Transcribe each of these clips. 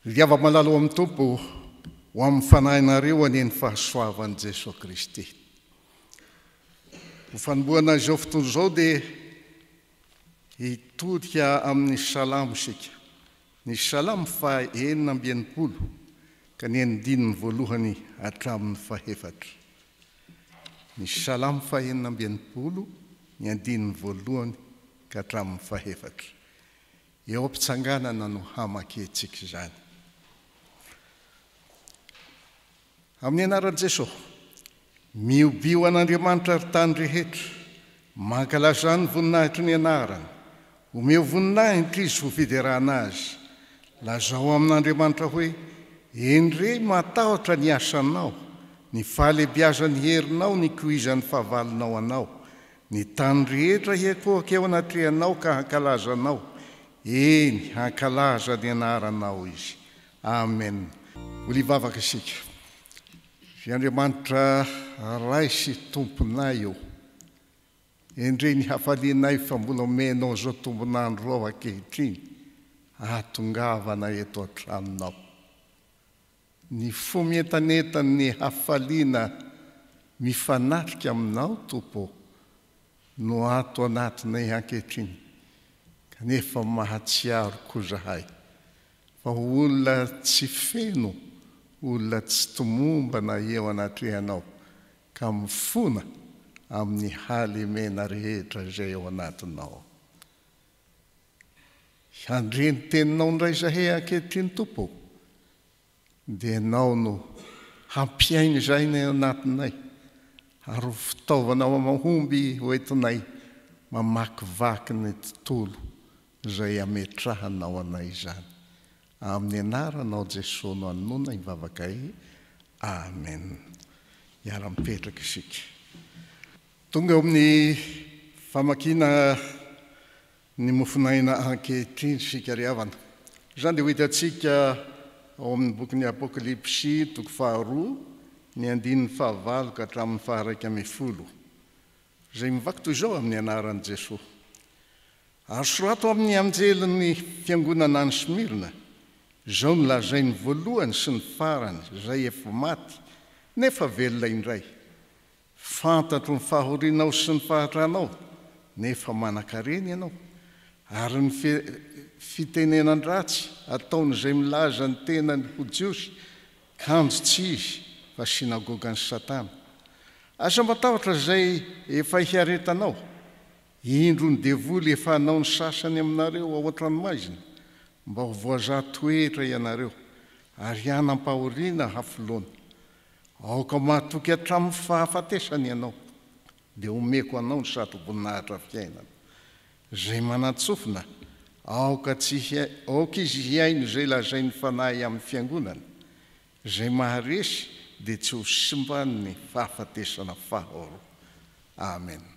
Liava malala ao amin'ny Tompo, ho amin'ny fanahinareo anie ny fahasoavan'i Jesoa Kristy. Ho fanombohana izao fotoana izao dia hitodika amin'ny salamo isika. Ny Salamo faha enina amby enimpolo ka ny andininy voalohany hatramin'ny fahefatra. Ny Salamo faha enina amby enimpolo, ny andininy voalohany ka hatramin'ny fahefatra. Eo am-pitsanganana no hamakiantsika izany. Amin'ny anaran'i Jeso. Mihobio an'Andriamanitra ry tany rehetra, mankalaza ny voninahitry ny anarany, omeo voninahitra izy ho fiderana azy, lazao amin'Andriamanitra hoe, Eny re, matahotra ny asanao, ny fahalebiazan'ny herinao nikoizan'ny fahavalonao anao, ny tany rehetra hiakoaka eo anatrehanao ka hankalaza anao, eny, hankalaza ny anaranao izy. Amen Mbola hivavaka isika Ve Andriamanitra Ray sy Tomponay ô endrey ny hafalianay fa mbola omenao izao tombon'andro izao ankehitriny ahatongavana eto an-tranonao ny fo mientanentan'ny hafaliana mifanatrika aminao Tompo ô no ato anatinay ankehitriny kanefa mahatsiaro koa izahay Fa olona tsy feno, olona tsy tomombana eo anatrehanao, ka mifona amin'ny halemena rehetra izay ao anatinao. Handre ny teninao indray izahay ankehitriny, Tompo ô, dia Ianao no hampiaino izay ny ao anatinay, ary ho fitaovana mahomby hoentinay mamakivaky ny tontolo izay ametrahanao anay izany. Amin'ny anaranao Jesoa no anona ny vavakay. Amen. Hiara-mipetraka isika. Tonga eo amin'ny famakiana ny mofon'aina ankehitriny isika ry havana. Izany dia ho hitantsika ao amin'ny bokin'ny Apokalypsy toko faharoa ny andininy fahavalo ka hatramin'ny faharaika ambin'ny folo, izay mivaky toy izao amin'ny anaran'i Jesoa. Ary sorato amin' ny anjelin' ny fiangonana any Smirna, Izao no lazain' ny voalohany sy ny farany, izay efa maty, nefa velona indray, Fantatro ny fahorianao sy ny fahatranao, nefa manan-karena ianao, ary ny fitenenan-dratsy ataon' izay milaza ny tenany ho Jiosy, kanjo tsy izy, fa sinagogan' i Satana. Aza matahotra izay efa hiaretanao. Indro ny devoly efa hanao ny sasany aminareo ao an-tranomaizina, mba ho voazaha toetra ianareo, ary hanam-pahoriana hafoloana. Aoka mahatoky hatramin'ny fahafatesana ianao, dia omeko anao ny satroboninahitra fiainana. Izay manan-tsofina, aoka tsy aoka izy hihaino izay lazain'ny Fanahy amin'ny fiangonana. Izay maharesy, dia tsy ho simban'ny fahafatesana faharoa. Amena.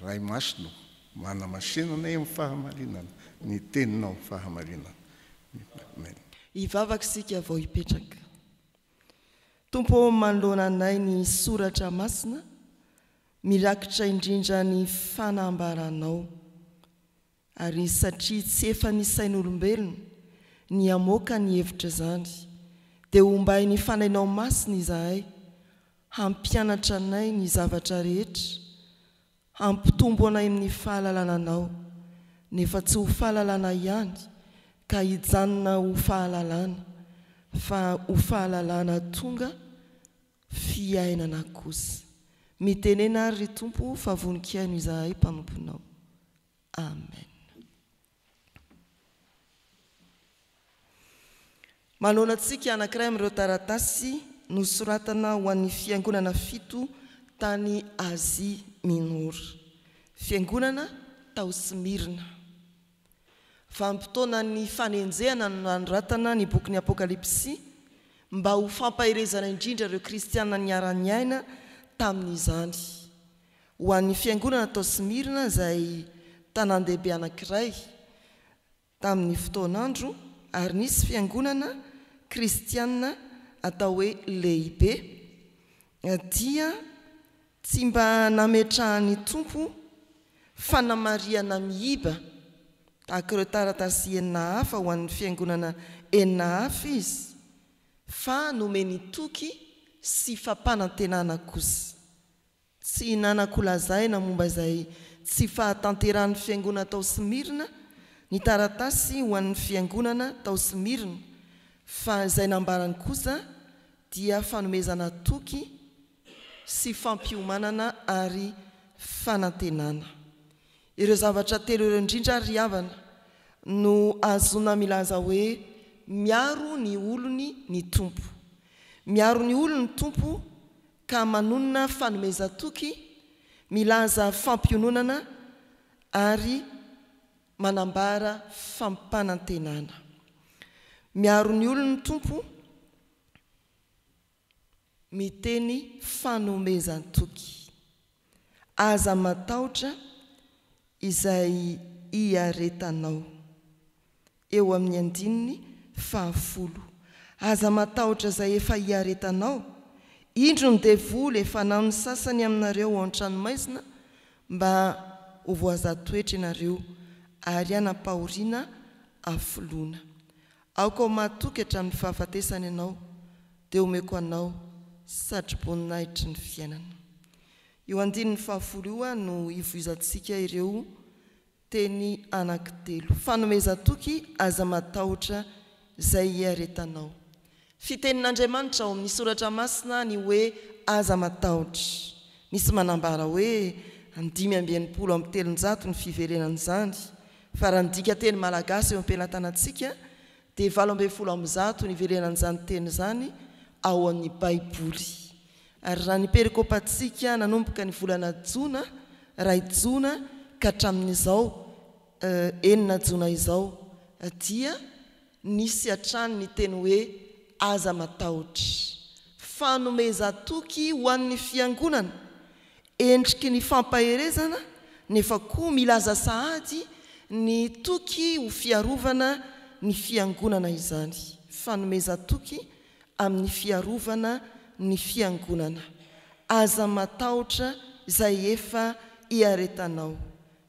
Ray Masina ô, manamasinana ahy amin'ny fahamarinana ny Teninao amin'ny fahamarinana. Amen. Hivavaka isika vao hipetraka. Tompo ô, manoloana anay ny soratra masina, mirakitra indrindra ny fanambaranao. Ary satria tsy efa ny sain'olombelona ny hamoaka ny hevitra izany, dia hombain'ny Fanainao Masina izahay, hampianatra anay ny zavatra rehetra, hampitombo anay amin'ny fahalalana Anao, nefa tsy ho fahalalana ihany ka hijanona ho fahalalana, fa ho fahalalana tonga fiainana kosa. Mitenena ary, ry Tompo, fa vonon-kiaino izahay mpanomponao. Amen. Manoana antsika anankiray amin'ireo taratasy nosoratana ho an'ny fiangonana fito tany Asie Minora. Fiangonana tao Smyrna. Vanim-potoanan'ny fanenjehana no nanoratana ny bokin'ny Apokalypsy mba ho fampaherezana indrindra ireo kristiana niara-niaina tamin'izany. Ho an'ny Fiangonana tao Smyrna, izay tanàn-dehibe anankiray tamin'ny fotoan'andro, ary nisy fiangonana kristiana atao hoe lehibe, dia tsy mba nametrahan'ny Tompo fanamarihana miiba tahaka ireo taratasy enina hafa ho an'ny fiangonana enina hafa izy, fa nomeny toky sy fampanantenana kosa. Tsy hinanako lazaina momba izay tsy fahatanterahan'ny Fiangonana tao Smyrna ny taratasy ho an'ny Fiangonana tao Smyrna, fa izay nambarany kosa dia fanomezana toky sy fampiomanana ary fanantenana. Ireo zavatra telo ireo indrindra, ry havana, no ahazoana milaza hoe miaro ny olony ny Tompo. Miaro ny olony ny Tompo ka manonona fanomezan-toky, milaza fampiononana ary manambara fampanantenana. Miaro ny olony ny Tompo, miteny fanomezan-toky. Aza matahotra izay hiaretanao. Eo amin'ny andininy fahafolo. Aza matahotra izay efa hiaretanao. Indro ny devoly efa anao ny sasany aminareo ao an-tranomaizina mba ho voaza toetra ianareo ary hanapahoriana afoloana. Aoka ho mahatoky hatramin'ny fahafatesana ianao, dia omeko anao satroboninahitry ny fiainana. Io andininy fahafolo io no ivoizantsika ireo teny anankitelo. Fanomezan-toky, Aza matahotra izay hiaretanao. Fitenin'Andriamanitra ao amin'ny Soratra Masina ny hoe aza matahotra. Misy manambara hoe dimy amby enimpolo amby telonjato ny fiverenan'izany Fa raha ny dikanteny malagasy eo am-pelatanantsika dia valo ambin'ny folo amby zato ny iverenan'izany teny izany ao amin'ny Baiboly. Ary raha ny perikopantsika nanomboka ny volana jona, iray jona, ka hatramin'izao, enina jona izao, dia. Nisy hatrany ny teny hoe aza matahotra. Fanomezan-toky ho an'ny Fiangonana, endriky ny fampaherezana nefa koa milaza sahady ny toky ho fiarovana ny Fiangonana izany. Fanomezan-toky amin'ny fiarovana ny Fiangonana. Aza matahotra izay efa iaretanao.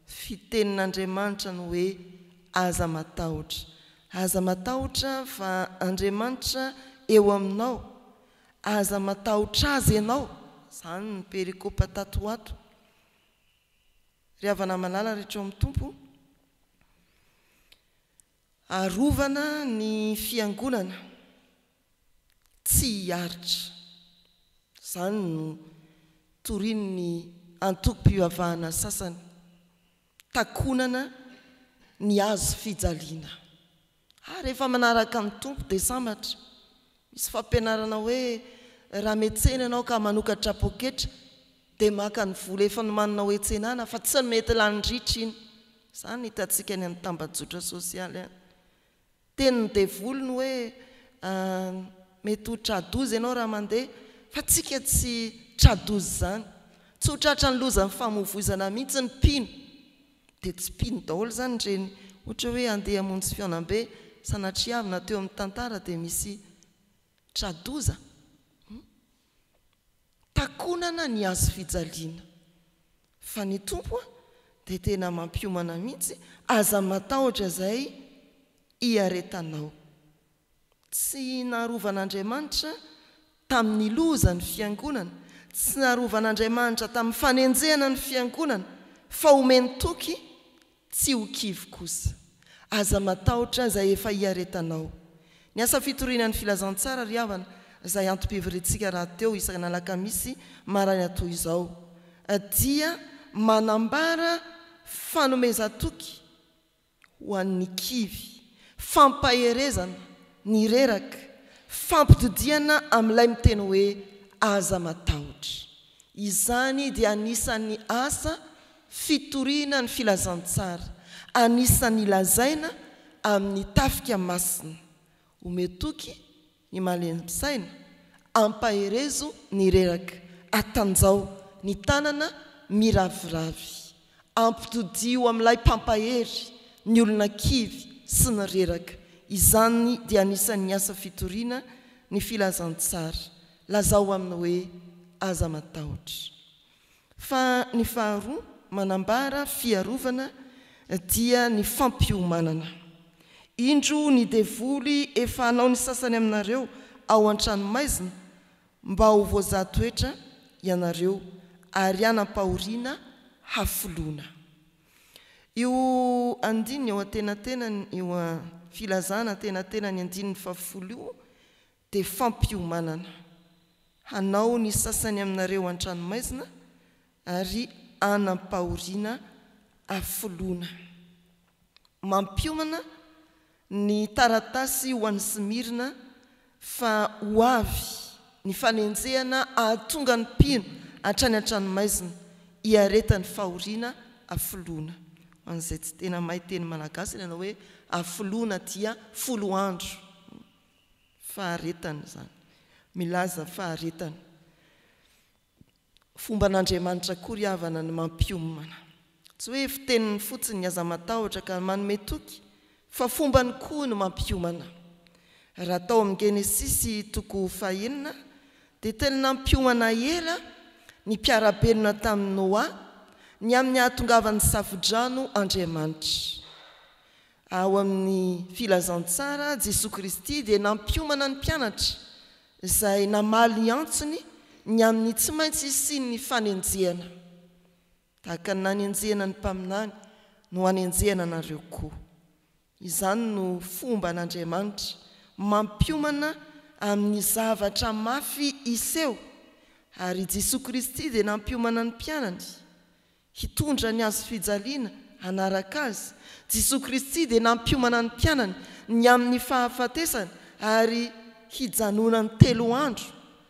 Fitenin'Andriamanitra ny hoe aza matahotra. Aza matahotra fa Andriamanitra eo aminao. Aza matahotra Azy ianao. Izany ny perikopa tato ho ato. Ry havana malala rehetra ao amin'ny Tompo, Arovana ny Fiangonana tsy hiaritra. Izany no torian'ny antokom-pivavahana sasany, takonana ny hazo fijaliana. Ary efa manaraka ny Tompo dia sambatra Misy fampianarana hoe raha metsena ianao ka manokatra poketra dia maka ny vola efa nomaninao hetsena-na fa tsy mety lany ritra iny. Izany no hitantsika any amin'ny tambajotra sosialy any. Tenin'ny devoly ny hoe mety ho tra-doza ianao raha mandeha fa tsika tsy tra-doza izany. Tsy ho tratran'ny lozan'ny famoivoizana mihitsy ny mpino. Dia tsipiny daholo izany ireny ohatra hoe andeha hamonjy fihaonambe sanatriavina teo amin'ny tantara dia misy tra-doza hum takonana ny hazo fijaliana fa ny Tompo a dia tena mampiomana mihitsy aza matahotra izay hiaretanao. Tsy narovan'Andriamanitra tamin'ny loza ny Fiangonana, tsy narovan'Andriamanitra tamin'ny fanenjehana ny Fiangonana, fa omeny toky tsy ho kivy kosa. Aza matahotra izay efa hiaretanao. Ny asa fitoriana ny Filazantsara ry havana, izay antom-pivoriantsika rahateo isan'alakamisy maraina toy izao, dia manambara fanomezan-toky ho an'ny kivy, fampaherezana, ny reraka, fampitodihana amin'ilay miteny hoe aza matahotra. Izany dia anisan'ny asa fitoriana ny filazantsara, anisan'ny lazaina amin'ny tafika masina. Omeo toky ny malempisaina, ampaherezo ny reraka, atanjaho ny tanana miraviravy, ampitodiho amin'ilay mpampahery ny olona kivy sy ny reraka, izany dia anisan'ny asa fitoriana ny filazantsara, lazao amin'ny hoe aza matahotra. Fa ny faharoa manambara fiarovana dia ny fampiomanana. Indro ny devoly efa hanao ny sasany aminareo ao an-tranomaizina mba ho voazaha toetra ianareo ary hanam-pahoriana hafoloana. Io andininy eo antenatenany io, filazana antenatenany andininy fahafolo io, dia fampiomanana. Hanao ny sasany aminareo an-tranomaizina ary hanam-pahoriana afoloana. Mampiomana ny taratasy ho an'i Smirna fa ho avy ny fanenjehana hahatonga ny mpino hatrany an-tranomaizina hiaretan'ny fahoriana afoloana. Ho an'izay tsy tena mahay teny malagasy, ilay anao hoe afoloana dia folo andro. Faharetana izany. Milaza faharetana. Fomban'Andriamanitra akory havana ny mampiomana. Tsy hoe fiteniny fotsiny ny aza matahotra ka manome toky fa fombany koa ny mampiomana. Raha tao amin'ny Genesisy toko fahenina dia tena nampiomana ela ny mpiara-belona tamin'i Noa ny amin'ny hahatongavan'ny Safodrano Andriamanitra. Ao amin'ny Filazantsara, Jesoa Kristy dia nampiomana ny mpianatra, izay namaly ny antsony, ny amin'ny tsy maintsy hisian'ny fanenjehana. Tahaka ny nanenjehana ny mpaminany no hanenjehana anareo koa. Izany no fomba an'Andriamanitra mampiomana amin'ny zavatra mafy hiseho, ary i Jesoa Kristy dia nampiomana ny mpianany, Hitondra ny hazo fijaliana hanaraka Azy. Jesoa Kristy dia nampiomana ny mpianany ny amin'ny fahafatesana ary hijanonany telo andro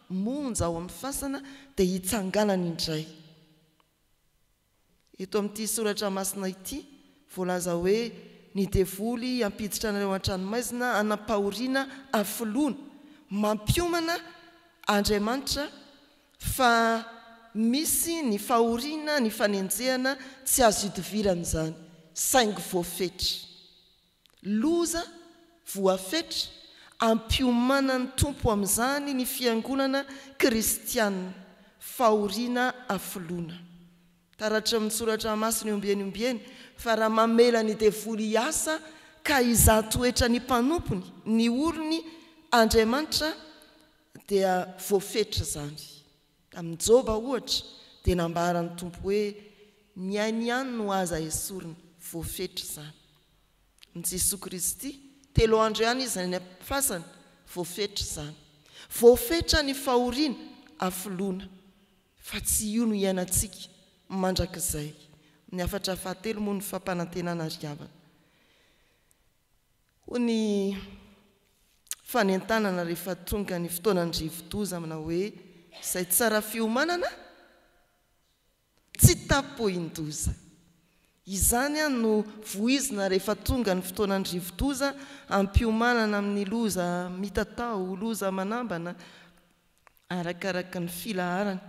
monja ao amin'ny fasana dia hitsanganany indray. Eto amin'ity soratra masina ity, voalaza hoe ny devoly hampiditra anareo an-tranomaizina hanam-pahoriana hafoloana, mampiomana Andriamanitra Fa misy ny fahoriana ny fanenjehana tsy azo idivirana izany saingy voafetra. Loza voafetra ampiomanan'ny Tompo amin'izany ny fiangonana kristianina, fahoriana afoloina. Taratry ny soratra masina eo ombieny ombieny fa raha mamela ny devoly hiasa ka hizaha toetra ny mpanompony, ny olony, Andriamanitra Dia voafetra izany. Tamin'i Joba, ohatra, dia nambaran'ny Tompo hoe, Ny ainy ihany no aza esorina. Voafetra izany. Amin'i Jesoa Kristy, telo andro ihany Izy any am-pifasana. Voafetra izany. Voafetra ny fahoriana, afoloana. Fa tsy io no iainantsika mandrakizay. Ny hafatra fahatelo moa ny fampanantenana ry havana. Hoy ny fanentanana rehefa tonga ny fotoanan'ny rivodoza manao hoe izay tsara fiomanana tsy tapohin-doza. Izany no voizina rehefa tonga ny fotoanan'ny rivodoza hampiomanana amin'ny loza mitatao ho loza manambana arakaraka ny filaharany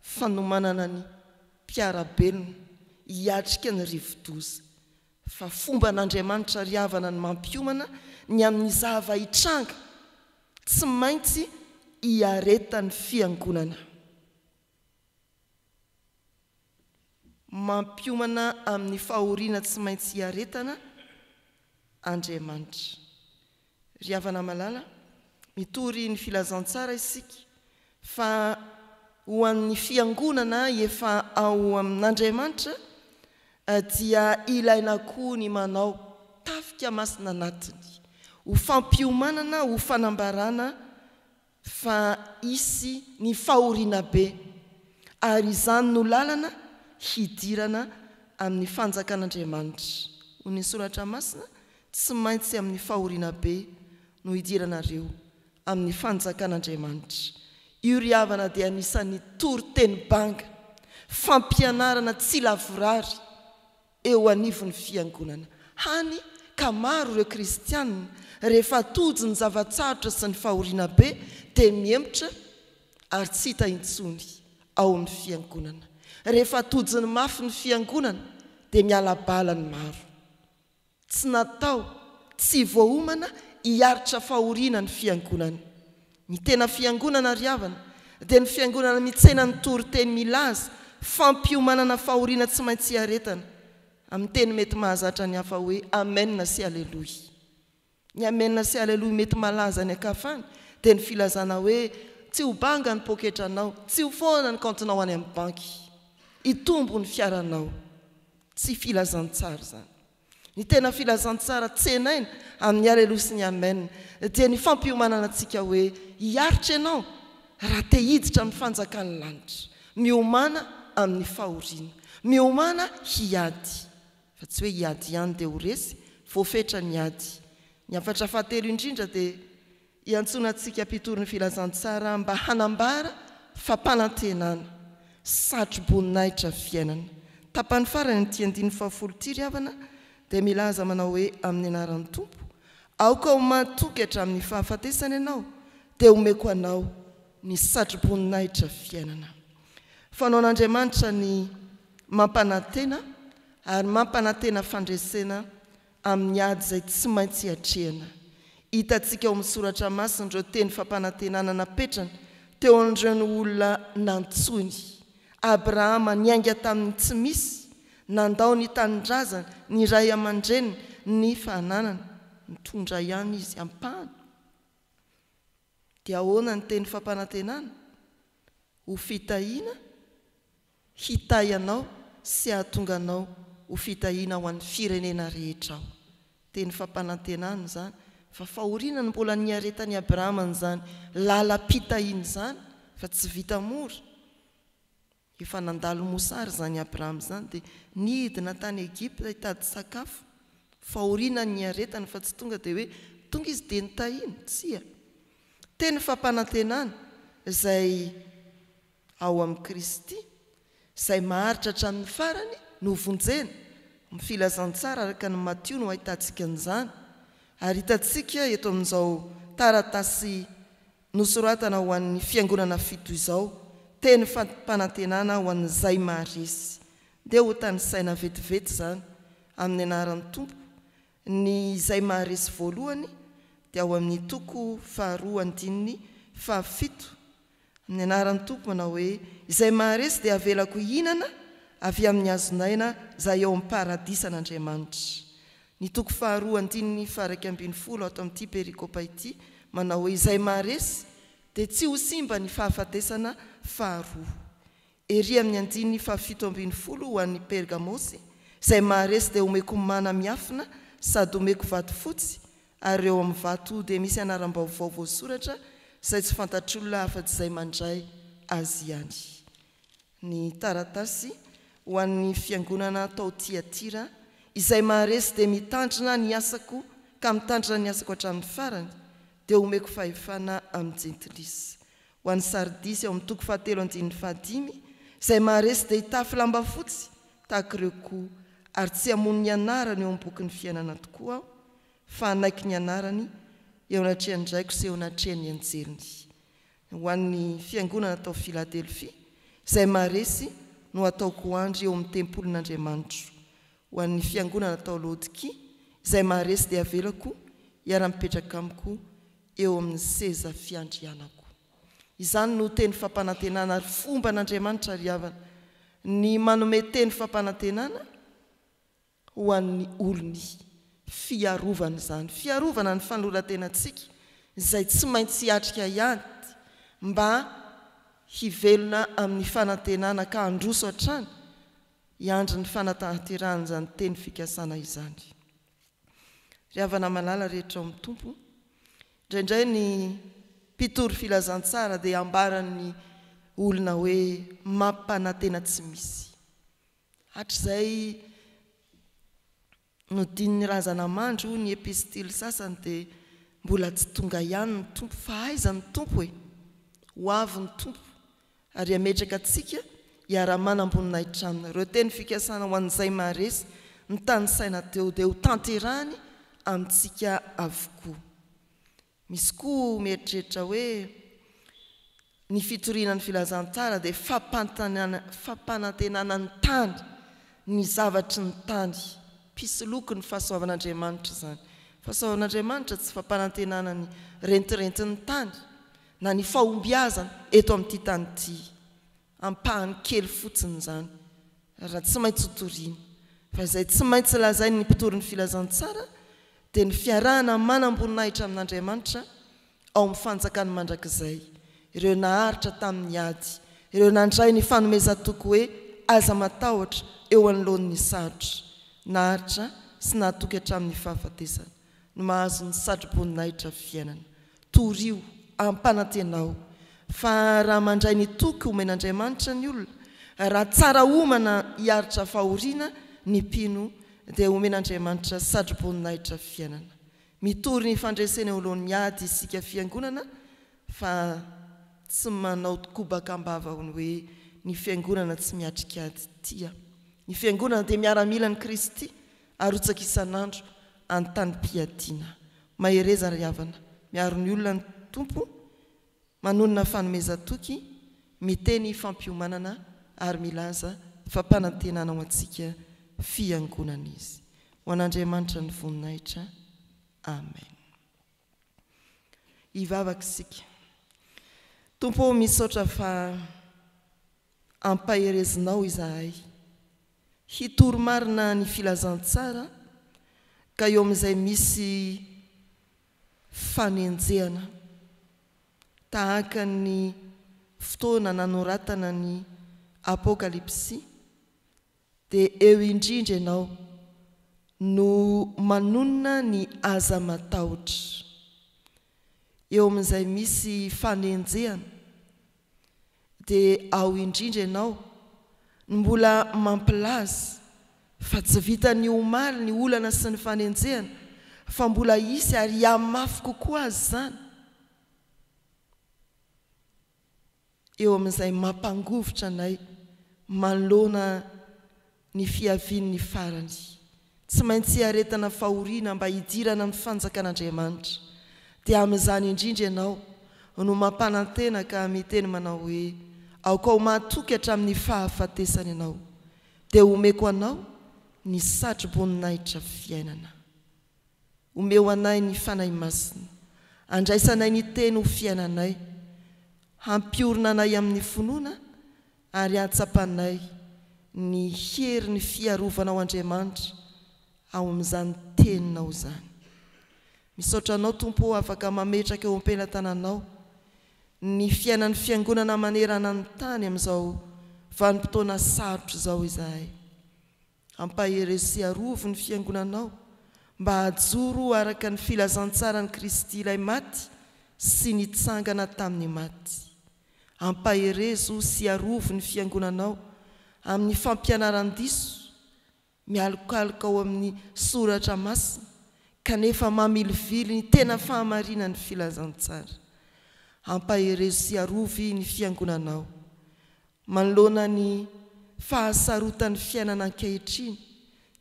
fanomanana ny mpiara-belona hiatrika ny rivodoza. Fa fomban'Andriamanitra ry havana ny mampiomana ny amin'ny zava-hitranga tsy maintsy hiaretan'ny Fiangonana. Mampiomana amin'ny fahoriana tsy maintsy hiaretana Andriamanitra. Ry havana malala, mitory ny filazantsara isika fa ho an'ny fiangonana efa ao amin'Andriamanitra dia ilaina koa ny manao tafika masina anatiny ho fampiomanana ho fanambarana fa hisy ny fahoriana be, ary izany no lalana hidirana amin'ny fanjakan'Andriamanitra. Hoy ny soratra masina, Tsy maintsy amin'ny fahoriana be no hidiranareo amin'ny fanjakan'Andriamanitra. Io ry havana dia anisan'ny toriteny banga, fampianarana tsy lavorary eo anivon'ny Fiangonana, hany ka maro ireo kristiana rehefa tojo ny zava-tsarotra sy ny fahoriana be dia mihemotra ary tsy hita intsony ao amin'ny Fiangonana. Rehefa tojony mafy ny Fiangonana dia miala bala ny maro. Tsy natao tsy voaomana hiaritra fahoriana ny Fiangonana. Ny tena fiangonana ry havana dia ny fiangonana mitsena ny toriteny milaza fampiomanana fahoriana tsy maintsy hiaretana, amin'ny teny mety mahazatra ny hafa hoe Amen sy Aleloia. Ny Amen sy Aleloia mety malaza any an-kafany dia ny filazana hoe tsy ho banga ny poketranao, tsy ho foana ny kaontinao any amin'ny banky, hitombo ny fiaranao. Tsy filazantsara izany. Ny tena filazantsara tsenaina amin'ny Aleloia sy ny Amen dia ny fampiomanana antsika hoe hiaritra ianao raha te hiditra amin'ny fanjakan'ny lanitra. Miomana amin'ny fahoriana. Miomana hiady. Fa tsy hoe hiady ihany dia ho resy. Voafetra ny ady. Ny hafatra fahatelo indrindra dia Iantsoana antsika mpitory ny filazantsara mba hanambara fampanantenana, satroboninahitra fiainana. Tapany farany amin'ity andininy fahafolo ity ry havana dia milaza manao hoe amin'ny anaran'ny Tompo, aoka ho matoky hatramin'ny fahafatesana ianao dia omeko anao ny satroboninahitra fiainana. Fanaon'Andriamanitra ny mampanantena ary mampanantena fandresena Amin'ny ady izay tsy maintsy atrehina, hitantsika ao amin'ny Soratra Masina ireo teny fampanantenana napetrany teo an'ireny olona nantsoiny. Abrahama niainga tamin'ny tsy misy, nandao ny tanindrazany, ny ray aman-dreniny, ny fananany. Nitondra ihany izy ampahany. Dia ahoana ny teny fampanantenana? Ho fitahiana? Hitahy anao sy hahatonga anao ho fitahiana ho an'ny firenena rehetra Aho. Teny fampanantenana izany, fa fahoriana no mbola niaretan'i Abrahama an'izany lalam-pitahiana izany, fa tsy vita mora. Efa nandalo mosary izany Abrahama izany, dia nidina tany Egypta hitady sakafo. Fahoriana no niaretany, fa tsy tonga dia hoe tonga izy dia nitahiana. Tsia. Teny fampanantenana izay. Ao amin'i Kristy, izay maharitra hatramin'ny farany, no vonjena, ny filazantsara araka an'i Matio no ahitantsika an'izany, ary hitantsika eto amin'izao taratasy nosoratana ho an'ny fiangonana fito izao, teny fampanantenana ho an'izay maharesy. Dia hotanisaina vetivety izany, amin'ny anaran'ny Tompo, ny izay maharesy voalohany, dia ao amin'ny toko faharoa andininy fahafito, Amin'ny anaran'ny Tompo manao hoe, Izay maharesy dia avelako hihinana avy amin'ny hazon'aina izay ao amin'ny paradisan'Andriamanitra. Ny toko faharoa andininy faha-iraika ambin'ny folo ato amin'ity perikopa ity manao hoe, Izay maharesy dia tsy ho simba ny fahafatesana faharoa. Ery amin'ny andininy fahafito ambin'ny folo ho an'i Pergamosy, izay maharesy dia homeko mana miafina sady homeko vato fotsy, ary eo amin'ny vato dia misy anaram-baovao voasoratra izay tsy fantatr'olona afa-tsy izay mandray azy ihany. Ny taratasy ho an'ny fiangonana tao Tyatira, izay maharesy dia mitandrina ny asako ka mitandrina ny asako hatramin'ny farany, dia homeko fahefana amin'ny jentilisa. Ho an'i Sardisy ao amin'ny toko fahatelo andininy fahadimy, izay maharesy dia hitafy lamba fotsy tahaka ireo koa, ary tsy hamono ny anarany eo amin'ny bokin'ny fiainana tokoa aho, fa hanaiky ny anarany eo anatrehan'ny Raiko sy eo anatrehan'ny anjeliny. Ho an'ny fiangonana tao Filadelfia, izay maharesy no hataoko ho andry eo amin'ny tempolin'Andriamanitro. Ho an'ny fiangonana tao Laodikia, izay maharesy dia havelako hiara-mipetraka amiko eo amin'ny seza fiandrianako. Izany no teny fampanantenana ary fomba an'Andriamanitra ry havana ny manome teny fampanantenana ho an'ny olony fiarovana izany fiarovana ny fanoloran-tenantsika izay tsy maintsy hiatrika hiady mba hivelona amin'ny fanantenana ka handroso hatrany hiandry ny fanatahanterahan'izany teny fikasana izany. Ry havana malala rehetra ao amin'ny Tompo, indraindray ny mpitory filazantsara dia ambaran'ny olona hoe mampanantena tsy misy. Hatrizay nodinin'ny razana mandry hoy ny epistily sasany dia mbola tsy tonga ihany ny Tompo. Fa aiza ny Tompo e? Ho avy ny Tompo. ary hametraka antsika hiara-manam-boninahitra Aminy. Ireo teny fikasana ho an'izay maharesy ny tanisaina teo dia ho tanterahiny amintsika avokoa. Misy koa mieritreritra hoe ny fitoriana ny Filazantsara dia fampanantenana ny tany, ny zavatry ny tany. Mpisoloky ny fahasoavan'Andriamanitra izany. Fahasoavan'Andriamanitra tsy fampanantenana ny rentirentin'ny tany. na ny fahombiazana eto amin'ity tany ity, ampahany kely fotsiny izany raha tsy maintsy ho toriana, fa izay tsy maintsy lazain'ny mpitory ny filazantsara dia ny fiarahana manam-boninahitra amin'Andriamanitra ao amin'ny fanjakany mandrakizay, ireo naharitra tamin'ny ady, ireo nandray ny fanomezan-toky hoe aza matahotra eo anoloan'ny sarotra, naharitra sy nahatoky hatramin'ny fahafatesana. no mahazo ny satroboninahitra fiainana. Torio, ampanantenao, fa raha mandray ny toky omen'Andriamanitra ny olona, raha tsara homana hiaritra fahoriana ny mpino, dia homen'Andriamanitra satroboninahitra fiainana. Mitory ny fandreseny eo anoloan'ny ady isika Fiangonana fa tsy manao kobaka am-bava ny hoe ny Fiangonana tsy miatrika ady. Tia. Ny Fiangonana dia miaramilan'i Kristy Arotsaka isan'andro an-tanim-piadiana. Mahereza ry havana, miaro ny olona ny Tompo, manonona fanomezan-toky, miteny fampiomanana ary milaza fampanantenana ho antsika Fiangonana Izy. Ho an'Andriamanitra ny voninahitra. Amen. Hivavaka isika. Tompo ô, misaotra fa ampaherezinao izahay. Hitory marina ny filazantsara ka eo amin'izay misy fanenjehana, tahaka ny fotoana nanoratana ny Apokalypsy, dia eo indrindra ianao no manonona ny aza matahotra. Eo amin'izay misy fanenjehana, Dia ao indrindra ianao no mbola mampilaza fa tsy vitan'ny omaly ny olana sy ny fanenjehana fa mbola hisy ary hihamafy kokoa aza izany eo amin'izay mampangovitra anay manoloana Ny fiavian'ny farany, tsy maintsy iaretana fahoriana mba hidirana amin'ny fanjakan'Andriamanitra, dia amin'izany indrindra ianao no mampanantena ka miteny manao hoe, Aoka ho mahatoky hatramin'ny fahafatesana ianao, dia homeko anao ny satroboninahitra fiainana. Omeo anay ny Fanahy Masina, andraisanay ny Teny ho fiainanay, hampiorina anay amin'ny finoana Ary hatsapanay ny herin'ny fiarovanao Andriamanitra ao amin'izany teninao izany. Misaotra anao Tompo ô afaka mametraka eo am-pelatananao ny fiainan'ny fiangonana manerana ny tany amin'izao vanim-potoana sarotra izao izahay. Ampahery sy arovy ny Fiangonanao mba hajoro ho araka ny filazantsaran'i Kristy Ilay maty sy nitsangana tamin'ny maty. Ampaherezo sy arovy ny Fiangonanao amin'ny fampianaran-diso, mialokaloka ao amin'ny Soratra Masina kanefa mamilivily ny tena fahamarinan'ny filazantsara. Ampaherezo sy arovy ny Fiangonanao Manoloana ny fahasarotan'ny fiainana ankehitriny,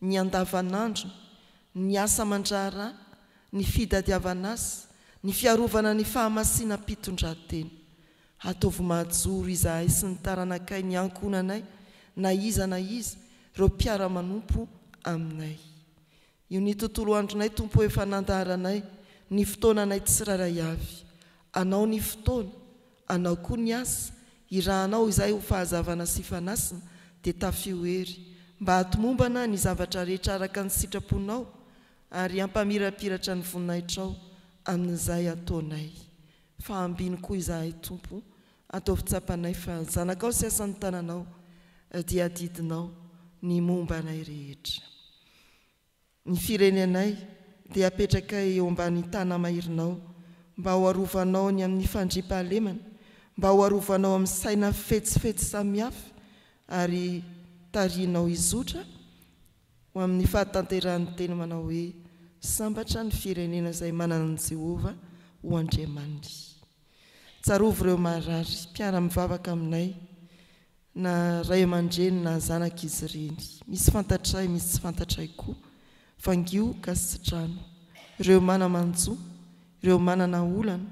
ny andavanandrony, ny asa aman-draharaha, ny fidadiavan'asa, ny fiarovana ny fahamasinam-pitondrantena. Ataovy mahajoro izahay sy ny taranakay ny ankohonanay na iza na iza ireo mpiara-manompo aminay. Io ny tontolo andronay Tompo Efa nandaharanay ny fotoananay Tsirairay avy Anao ny fotoana Anao koa ny asa Irahanao izahay ho fahazavana sy fanasina Dia tafio hery Mba hatomombana ny zavatra rehetra araka ny sitraponao Ary hampamirapiratra ny voninahitrao Amin'izay ataonay Fa ambiny koa izahay Tompo Ataovy tsapanay fa zanakao sy asan'ny tananao Dia adidinao ny momba anay rehetra Ny firenenay dia apetrakay eo ambany tanamairinao mba ho arovanao ny amin'ny fandriampahalemana, mba ho arovanao amin'ny saina fetsifetsy samihafa ary tarihinao hizotra ho amin'ny fahatanterahan'ny teny manao hoe, Sambatra ny firenena izay manana an'i Jehovah ho Andriamaniny. Tsarovy ireo marary mpiara-mivavaka aminay, na ray aman-dreny na zanak'izy ireny. Misy fantatray, misy tsy fantatray koa. Vangio gasitrano. Ireo mana-manjo, ireo manana olana,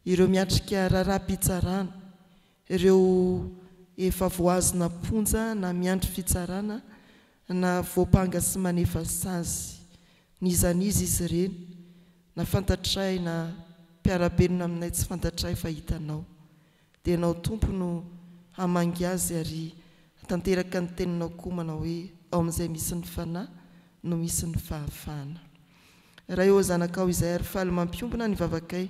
ireo miatrika raharaham-pitsarana, Ireo efa voahazona am-ponja na miandry fitsarana na voampanga sy manefa sazy. Nizaniza izy ireny, na fantatray na mpiara-belona aminay tsy fantatray fa hitanao. Dia ianao Tompo no hamangy azy ary hatanteraka ny teninao koa manao hoe ao amin'izay misy ny Fanahy no misy ny fahafahana. Ray ô zanakao izay ary faly mampiombona ny vavakay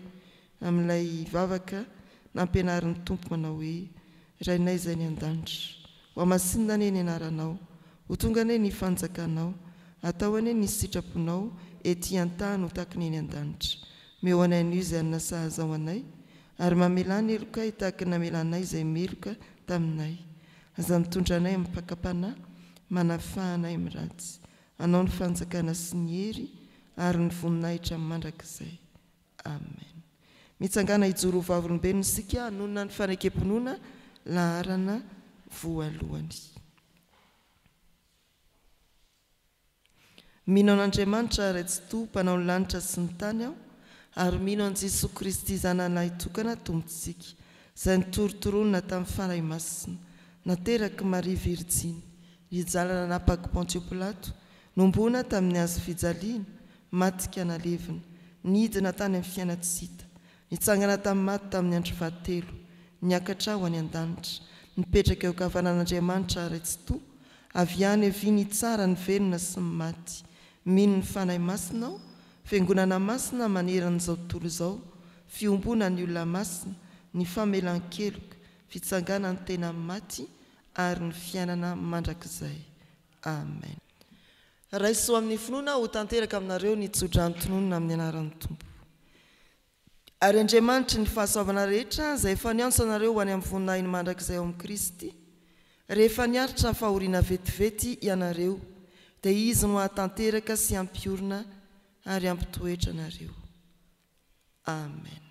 amin'ilay vavaka nampianarin'ny Tompo manao hoe, Rainay izay any an-danitra, hohamasinina anie ny anaranao, ho tonga anie ny fanjakanao, atao anie ny sitraponao ety an-tany ho tahaka ny eny an-danitra. Meo anay anio izay hanina sahaza ho anay, ary mamelà ny helokay tahaka ny namelanay izay meloka taminay. Aza mitondra anay amin'ny pakam-panahy, manafaha anay amin'ny ratsy. Anao ny fanjakana sy ny hery ary ny voninahitra mandrakizay. Amen. Mitsangàna hijoro ho vavolombelona isika hanonona ny fanekem-pinoana laharana voalohany. Mino an'Andriamanitra Ray Tsitoha mpanao ny lanitra sy ny tany aho ary mino an'i Jesoa Kristy Zanany Lahitokana Tompontsika izay nitorotoronina tamin'ny Fanahy Masina, naterak'i Maria Virjiny, nijalina nanapak'i Pontio Pilato, nomboana tamin'ny hazo fijaliana, Maty ka nalevina. Nidina tany amin'ny fiaina tsy hita. Nitsangana tamin'ny maty tamin'ny andro fahatelo. Niakatra ho any an-danitra. Nipetraka eo an-kavanan'Andriamanitra Ray Tsitoha. Avy any havia nitsara ny velona sy ny maty. Mino ny Fanahy Masina aho. Fiangonana masina maneran'izao tontolo izao. Fiombonan'ny olona masina. Ny famelan-keloka. Fitsanganan'ny tena amin'ny maty ary ny fiainana mandrakizay. Amen. Raiso amin'ny finoana ho tanteraka aminareo ny tsodrano tononina amin'ny anaran'ny Tompo. Ary Andriamanitry ny fahasoavana rehetra, izay efa niantso anareo ho any amin'ny voninahiny mandrakizay ao amin'i Kristy, rehefa niaritra fahoriana vetivety ianareo, dia Izy no hahatanteraka sy hampiorina ary hampitoetra anareo. Amen.